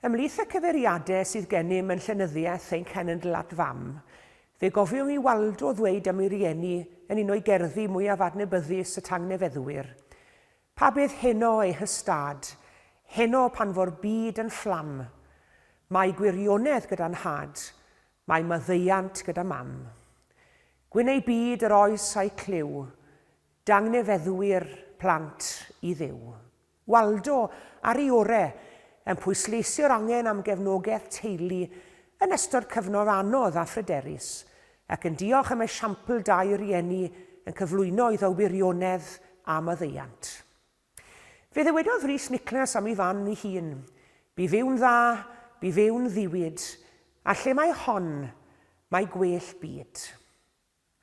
Ymhlith y cyfeiriadau sydd gennym yn llenyddiaeth ein cenedl at fam, fe gofiwn i Waldo ddweud am ei rieni yn un o'i gerddi mwyaf adnabyddus y tangnefeddwyr, Pa beth heno, ei hystâd, heno pan fo'r byd yn fflam? Mae gwirionedd gyda nhad, Mae maddeuant gyda Mam. Gwyn ei byd yr oes a'i clyw, dangnefeddwyr plant i Dduw. Waldo, ar ei ore', yn pwysleisio'r angen am gefnogaeth teulu yn ystod cyfnod anodd a phryderus, ac yn diolch am esiampl da'i rieni yn cyflwyno iddo wirionedd a maddeuant. Fe ddywedodd Rhys Nicholas am ei fam ei hun, Bu fyw'n dda, bu fyw'n ddiwyd, a lle mae hon, mae gwell byd.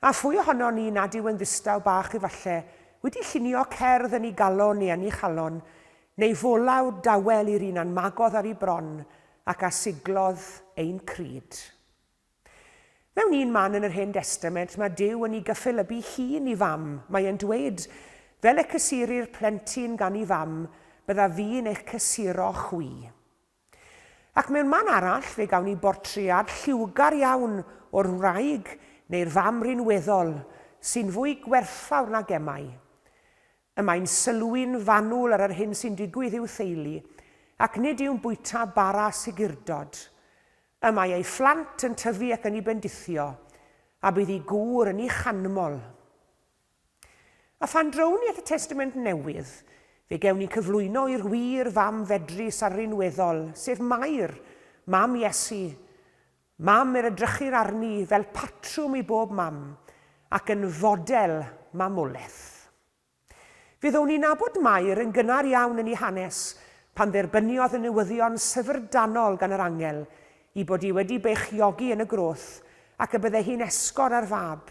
A phwy ohonon ni nad yw yn ddistaw bach efallai, wedi llunio cerdd yn ei galon neu yn ei chalon, neu folaw dawel i'r un a'n magodd ar ei bron ac a siglodd ein crud. Mewn un man yn yr Hen Destament, mae Duw yn i gyffelybu hun i fam. Mae e'n dweud, Fel y cysurir plentyn gan i fam, bydda fi'n eich cysuro chwi. Ac mewn man arall, fe gawn ni bortread lliwgar iawn o'r wraig neu'r fam rinweddol sy'n fwy gwerthfawr na gemau. Y mae'n sylwi'n fanwl ar yr hyn sy'n digwydd i'w theulu, ac nid yw'n bwyta bara sigurdod. Y mae ei phlant yn tyfu ac yn i bendithio, a bydd i gŵr yn i chanmol. A phan drown ni at y Testament Newydd, fe gewn ni cyflwyno i'r wir fam fedrus a rinweddol, sef Mair, mam Iesu, mam yr edrychir arni fel patrwm i bob mam, ac yn fodel mamolaeth. Fyddwn ni'n nabod Mair yn gynnar iawn yn ei hanes pan dderbyniodd y newyddion syfrdanol gan yr angel i bod hi wedi beichiogi yn y groth ac y bydde hi'n esgor ar fab.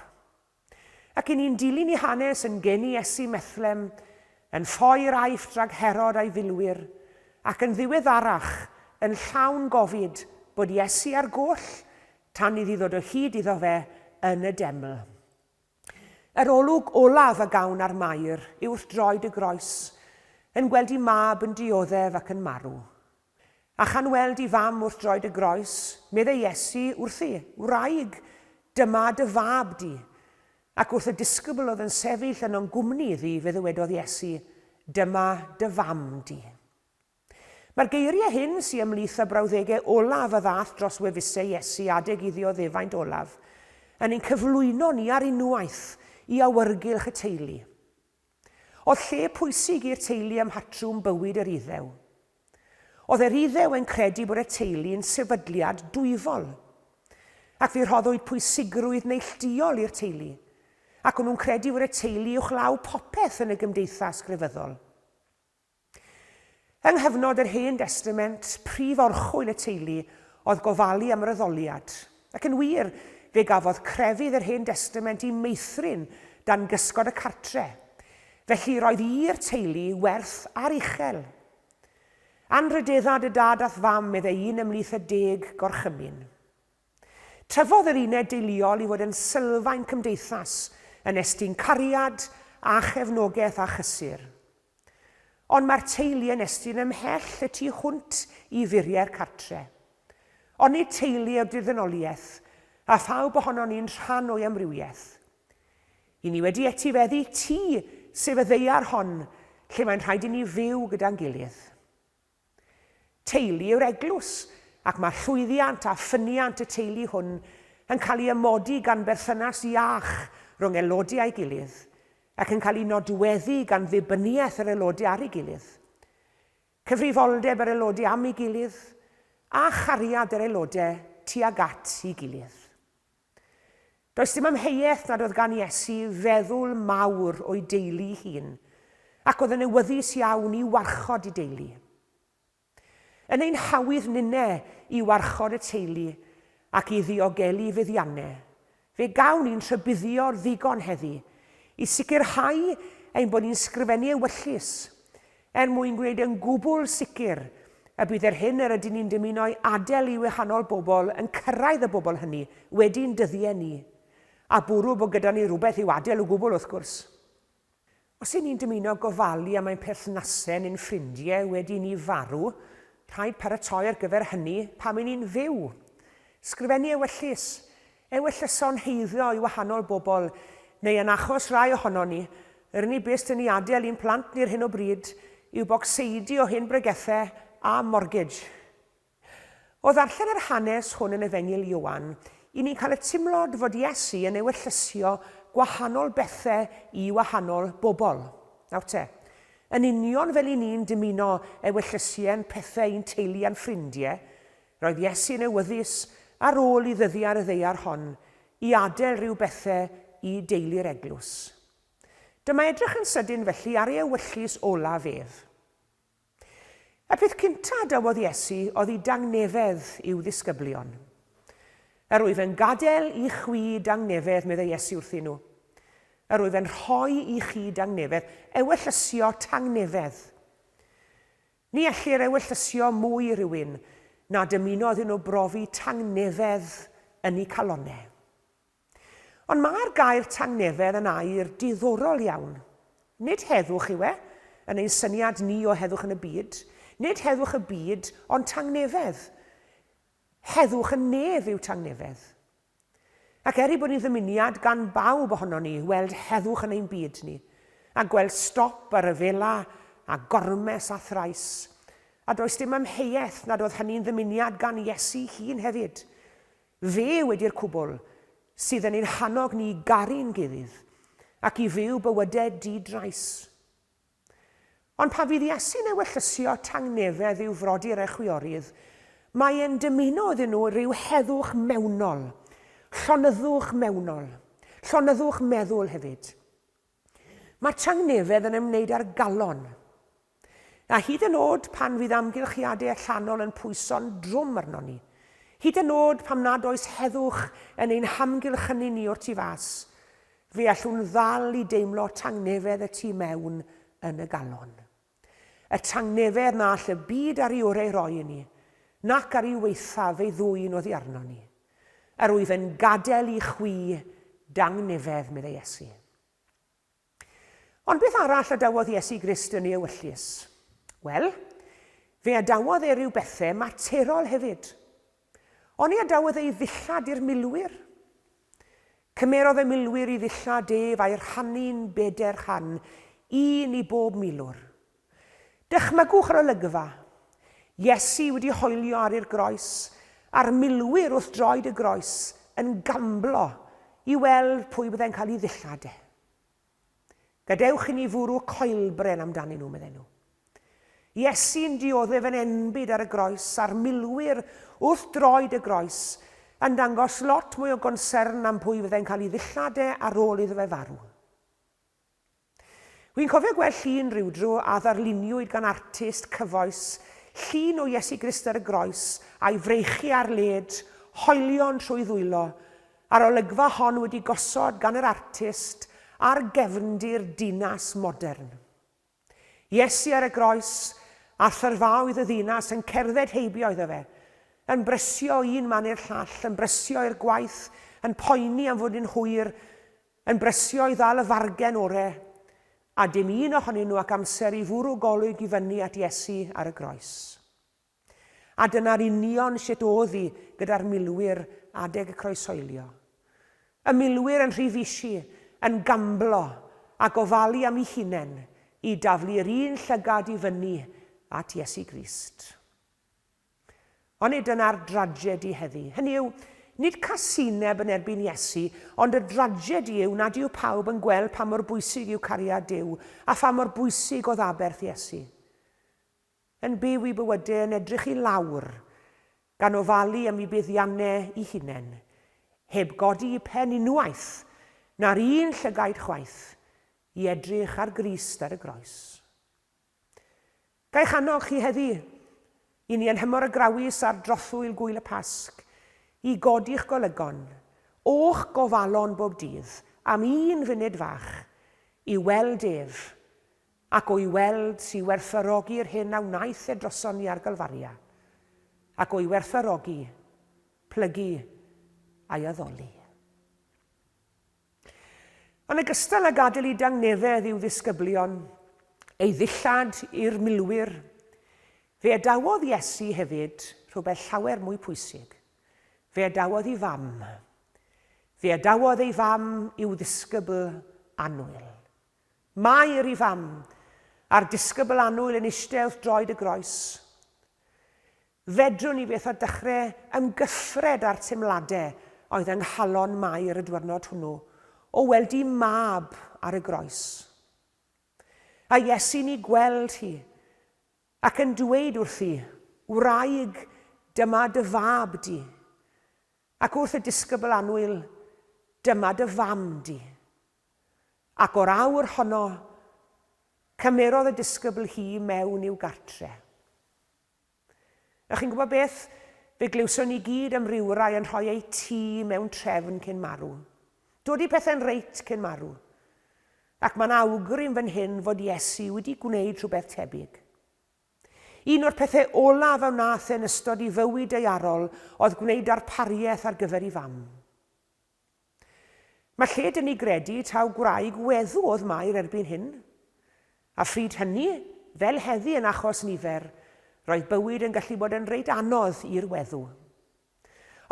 Ac i ni'n dilyn ei hanes yn gyn i Iesu Methlem, yn ffoi yr Aifft rhag Herod a'i filwyr, ac yn ddiweddarach, yn llawn gofid bod Iesu ar goll tan iddi ddod o hyd iddo fe yn y deml. Yr olwg olaf a gawn ar Mair yw wrth droed y groes, yn gweld i mab yn dioddef ac yn marw. A chan weld i fam wrth droed y groes, medde Iesu wrthi, Wraig, dyma dy fab di. Ac wrth y disgybl oedd yn sefyll yno'n gwmni iddi, fe ddywedodd Iesu, Dyma dy fam di. Mae'r geiriau hyn, sy ymhlith y brawddegau olaf a ddaeth dros wefusau Iesu adeg iddi o ddefaint olaf, yn ein cyflwyno ni ar unwaith i awyrgylch y teulu. Oedd lle pwysig i'r teulu ym mhatrwm bywyd yr Iddew. Oedd yr Iddew yn credu bod y teulu yn sefydliad dwyfol. Ac fe rhoddwyd pwysigrwydd neillduol i'r teulu, ac o'n nhw'n credu fod y teulu uwchlaw popeth yn y gymdeithas grefyddol. Yng nghyfnod yr Hen Destament, prif orchwyl y teulu oedd gofalu am yr addoliad. Ac yn wir, fe gafodd crefydd yr Hen Destament i meithrin dan gysgod y cartre. Felly, roedd i'r teulu werth ar uchel. Anrhydeddad y dad a'th fam, meddai un ymhlith y deg gorchymyn. Tyfodd yr uned deuluol i fod yn sylfaen cymdeithas, yn estyn cariad a chefnogaeth a chysur. Ond mae'r teulu yn estyn ymhell y tu hwnt i furiau'r cartre. Onid teulu yw'r dirddynoliaeth, a phawb ohonon ni'n rhan o'i amrywiaeth? I ni wedi etifeddu tŷ, sef y ddaear hon, lle mae'n rhaid i ni fyw gyda'n gilydd. Teulu yw'r eglwys, ac mae llwyddiant a ffyniant y teulu hwn yn cael ei amodi gan berthynas iach rhwng aelodau a'i gilydd, ac yn cael ei nodweddu gan ddibyniaeth yr aelodau ar ei gilydd, cyfrifoldeb yr aelodau am ei gilydd, a chariad yr aelodau tuag at ei gilydd. Does dim amheuaeth nad oedd gan Iesu feddwl mawr o'i deulu'i hun, ac oedd yn awyddus iawn i warchod ei deulu. Yn ein hawydd ninne i warchod y teulu ac i ddiogelu feddianne, fe gawn ni'n rhybuddio ddigon heddi i sicrhau ein bod ni'n sgrifennu ewyllys Er mwyn gwneud yn gwbl sicr y bydd yr hyn yr ydyn ni'n dymuno'i adael i wahanol bobl yn cyrraedd y bobl hynny wedi'n dyddiau ni, a bwrw bod gyda ni rhywbeth i'w adael o gwbl wrth gwrs. Os y'n ni'n dymuno gofalu am ein perthnasau neu'n ffrindiau wedi i ni farw, rhaid paratoi ar gyfer hynny pan y'n ni'n fyw. Sgrifennu ewyllys, Ewyllysson heirio i wahanol bobl, neu yn achos rai ohonon ni, yr unig beth sy'n ei adael i'n plant ni ar hyn o bryd yw bocseidi o hen bregethau a mortgage. O ddarllen yr hanes hwn yn Efengyl Ioan, i ni'n cael y timlod fod Iesu yn ewyllysio gwahanol bethau i wahanol bobl. Nawr te, yn union fel i ni'n dymuno ewyllysien pethau i'n teulu a'n ffrindiau, Roedd Iesu'n awyddus ar ôl i ddyddiau'r ddaear hon i adael rhyw bethe i deulu'r eglwys. Dyma edrych yn sydyn felly ar ei ewyllys olaf ef. Y peth cynta a dywodd Iesu oedd i dangnefedd i'w ddisgyblion. Yr wyf yn gadael i chwi dangnefedd, meddai Iesu wrthyn nhw. Yr wyf yn rhoi i chi dangnefedd, ewyllysio tangnefedd. Ni ellir ewyllysio mwy i rywun na dymuno iddyn nhw brofi tangnefedd yn eu calonnau. Ond mae'r gair tangnefedd yn air diddorol iawn. Nid heddwch yw e, yn ein syniad ni o heddwch yn y byd, nid heddwch y byd ond tangnefedd. Heddwch y nef yw tangnefedd. Ac er ei bod hi'n ddymuniad gan bawb ohonon ni weld heddwch yn ein byd ni, a gweld stop ar ryfela a gormes a thrais, a does dim amheuaeth nad oedd hynny'n ddymuniad gan Iesu hun hefyd. Fe wedi'r cwbl sydd yn ein hannog ni i garu'n gilydd ac i fyw bywydau di-drais. Ond pan fydd Iesu'n ewyllysio tangnefedd i'w frodyr a chwiorydd, mae e'n dymuno iddyn nhw ryw heddwch mewnol, llonyddwch mewnol, llonyddwch meddwl hefyd. Mae tangnefedd yn ymwneud â'r galon. A hyd yn oed pan fydd amgylchiadau allanol yn pwyso'n drwm arnon ni, hyd yn oed pam nad oes heddwch yn ein hamgylchynu ni o'r tu fas, Fe allwn ddal i deimlo tangnefedd y tu mewn yn y galon. Y tangnefedd na all y byd ar ei oreu roi i ni, nac ar ei waethaf ei ddwyn oddi arnon ni. Yr wyf yn gadael i chwi dangnefedd, meddai Iesu. Ond beth arall adawodd Iesu Grist yn ei ewyllys? Wel, fe adawodd e ryw bethau materol hefyd. Oni adawodd ei ddillad i'r milwyr? Cymerodd y milwyr i ddillad ef a'i rhannu'n beder rhan, un i bob milwr. Dychmygwch yr olygfa, Iesu wedi hoelio ar i'r groes, a'r milwyr wrth droed y groes yn gamblo i weld pwy byddai'n cael ei ddillad e. Gadewch i ni fwrw coelbren amdanyn nhw, medden nhw. Iesu'n dioddef yn enbyd ar y groes, a'r milwyr wrth droed y groes, yn dangos lot mwy o gonsern am pwy fyddai'n cael ei ddillad e ar ôl iddo fe farw. Wi'n cofio gweld llun rhyw dro a ddarluniwyd gan artist cyfoes, llun o Iesu Grist ar y groes, a'i freichiau ar led, hoelion trwy ddwylo, A'r olygfa hon wedi gosod gan yr artist ar gefndir dinas modern. Iesu ar y groes, a thyrfaoedd y ddinas yn cerdded heibio iddo fe, yn brysio o un man i'r llall, yn brysio i'r gwaith, yn poeni am fod yn hwyr, yn brysio i ddal y fargen ore, a dim un ohonyn nhw ac amser i fwrw golwg i fyny at Iesu ar y groes. A dyna'r union sut o'dd 'i gyda'r milwyr adeg y croeshoelio. Y milwyr yn rhy fisi, yn gamblo a gofalu am 'u hunen i daflu'r un llygad i fyny at Iesu Grist. Ond nid dyna'r dragedi heddi. Hynny yw, nid casineb yn erbyn Iesu, ond y dragedi yw nad yw pawb yn gweld pa mor bwysig yw cariad Duw a pha mor bwysig o'dd aberth Iesu. Yn byw i bywyde yn edrych i lawr, gan ofalu am i buddianne i hunen, heb godi i pen unwaith, na'r un llygaid chwaith, i edrych ar Grist ar y Groes. Ga'i channog chi heddi, i ni anhymor y Grawys ar drothwyl Gŵyl y Pasg, i godi'ch golygon, o'ch gofalon bob dydd, am un funud fach, i weld ef, Ac o'i weld si werthfawrogi'r hyn a wnaeth e droson ni ar Galfaria, ac o'i werthfawrogi, plygu, a'i addoli. Yn ogystal â gadael i dangnefedd i'w ddisgyblion, ei ddillad i'r milwyr, fe adawodd Iesu hefyd rhywbeth llawer mwy pwysig, fe adawodd i Fam. Fe adawodd ei Fam i'w ddisgybl annwyl. Mair i fam, a'r disgybl annwyl yn eistedd wrth droed y groes. Fedrwn i fyth â dechre ymgyffred â'r teimlade oedd yng nghalon Mair y dwyrnod hwnnw, o weld i mab ar y groes. A Iesu'n i gweld hi, ac yn dweud wrthi, Wraig, dyma dy fab di. Ac wrth y disgybl annwyl, Dyma dy fam di. Ac o'r awr honno, cymerodd y disgybl hi mewn i'w gartre. Ych chi'n gwybod beth? Fe glywson ni gyd am rywrai yn rhoi eu tŷ mewn trefn cyn marw. Dod i pethau'n reit cyn marw. Ac mae'n awgrym fan hyn fod Iesu wedi gwneud rhywbeth tebyg. Un o'r pethau olaf a wnaeth e yn ystod ei fywyd daearol oedd gwneud darpariaeth ar gyfer ei Fam. Mae lle dŷ ni gredu taw gwraig weddw oedd Mair erbyn hyn. A phryd hynny, fel heddi yn achos nifer, roedd bywyd yn gallu bod yn reit anodd i'r weddw.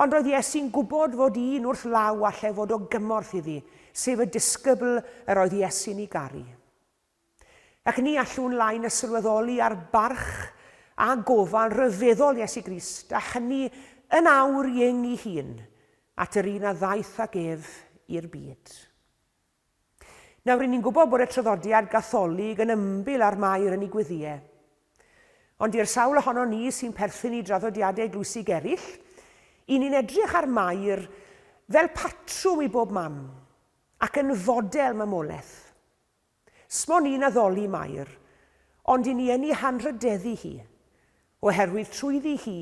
Ond roedd Iesu'n gwybod fod un wrth law allai fod o gymorth iddi, sef y disgybl yr oedd Iesu'n ei garu. Ac ni allwn lai na sylweddoli ar barch a gofal rhyfeddol Iesu Grist, a hynny yn awr i ing i hun, at yr un a ddaeth ag ef i'r byd. Nawr, ry'n ni'n gwybod bod y traddodiad Gatholig yn ymbil ar Mair yn ei gweddiau. Ond i'r sawl ohono ni sy'n perthyn i draddodiadau glwysig eraill, i ni'n edrych ar Mair fel patrwm i bob mam, ac yn fodel mamolaeth. S'mon i'n addoli Mair, ond i ni yn i hanrhydeddu hi, oherwydd trwyddi hi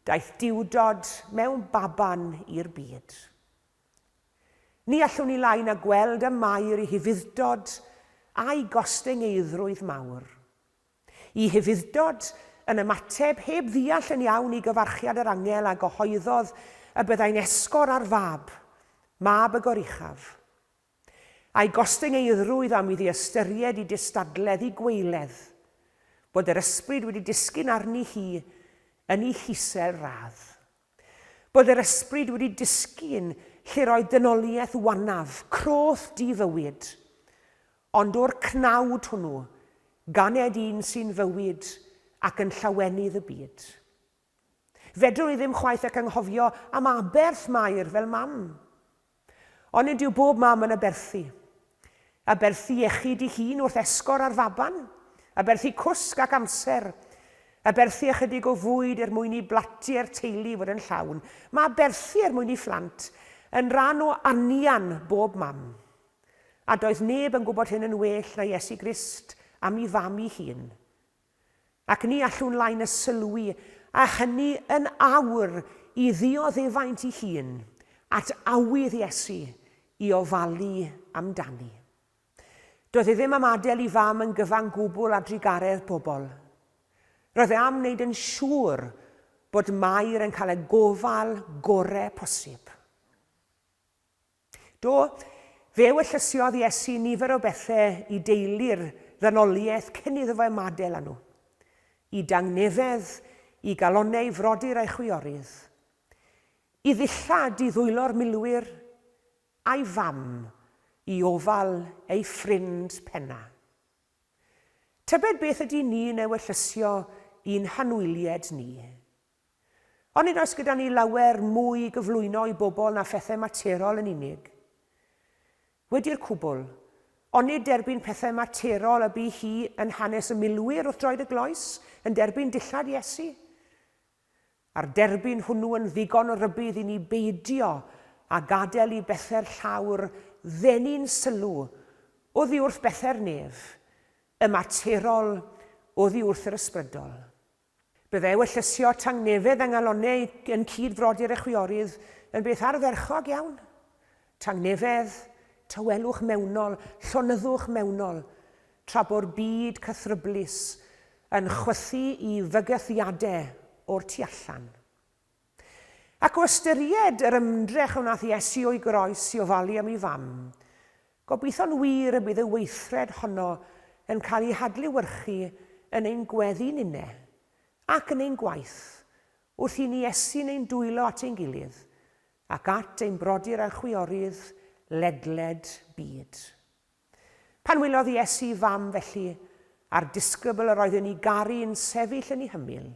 daeth Duwdod mewn baban i'r byd. Ni allwn ni lai na gweld ym Mair i hufuddtod a'i gostengeidrwydd mawr. I hufuddtod yn ymateb heb ddiall yn iawn i gyfarchiad yr angel a gyhoeddodd y byddai'n esgor ar fab, mab y goruchaf. A'i gostyngeidrwydd am iddi ystyried i gystadledd i gweiledd, bod yr ysbryd wedi disgyn arni hi yn i hisel radd. Bod yr ysbryd wedi disgyn lle'r oedd dynoliaeth wanaf, croth di-fywyd. Ond o'r cnawd hwnnw, ganed un sy'n fywyd ac yn llawenydd y byd. Fedrwn i ddim chwaith ac anghofio am aberth Mair fel mam. Ond nid yw bob mam yn aberthu. Aberthu iechyd i hun wrth esgor ar faban, aberthu cwsg ac amser, aberthu ychydig o fwyd er mwyn i blatiau'r teulu fod yn llawn, mae aberthu er mwyn i phlant yn ran o anian bob mam. A doedd neb yn gwybod hyn yn well na Iesu Grist am i fam i hun. Ac ni allwn lai na sylwi, a hynny yn awr, i ddioddefaint ei hun, at awydd Iesu i ofalu amdani. Doedd e ddim am adael i Fam yn gyfan gwbl â drugaredd pobl. Roedd e am wneud yn siŵr bod Mair yn cael y gofal gorau posib. Do, fe wellyssiodd Iesu nifer o bethe i deulu'r ddynoliaeth cyn iddo fo ymadel â nhw. I dangnefedd, i galonneu frodyr a'i chwiorydd. I ddillad, i ddwylo'r milwyr, a'i fam, i ofal ei ffrind penna. Tybed beth ydy ni'n ewellyssio i'n hanwylied ni? Ond nid oes gyda ni lawer mwy i gyflwyno i bobl na phethau materol yn unig. Wedi'r cwbl, onid derbyn pethau materol y bu hi yn hanes y milwyr wrth droed y gloes, yn derbyn dillad Iesu? A'r derbyn hwnnw yn ddigon o rybudd i ni beidio â gadael i bethau'r llawr ddenu'n sylw oddi wrth bethau'r nef, y materol oddi wrth yr ysbrydol. Byddai ewyllysio tangnefedd a ngalonnau yn cyd frodyr y chwiorydd yn beth ardderchog iawn. Tangnefedd, tawelwch mewnol, llonyddwch mewnol, tra bo'r byd cythryblus yn chwythu i fygythiadau o'r tu allan. Ac o ystyried yr ymdrech a wnaeth Iesu o'i groes i ofalu am ei Fam, gobeithio'n wir y bydd y weithred honno yn cael ei hadlewyrchu yn ein gweddi ninne, ac yn ein gwaith, wrth i ni Iesu'n ein dwylo at ein gilydd, ac at ein brodyr a chwiorydd ledled byd. Pan wylodd Iesu ei Fam felly, a'r disgybl yr oedd yn ei garu yn sefyll yn ei hymyl,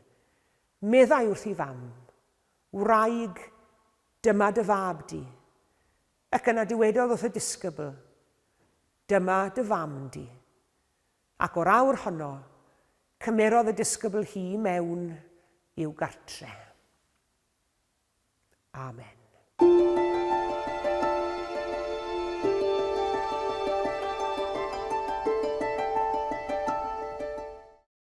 Meddai wrth ei fam, Wraig, dyma dy fab di. Ac yna dywedodd wrth y disgybl, Dyma dy fam di. Ac o'r awr honno, cymerodd y disgybl hi mewn i'w gartre. Amen.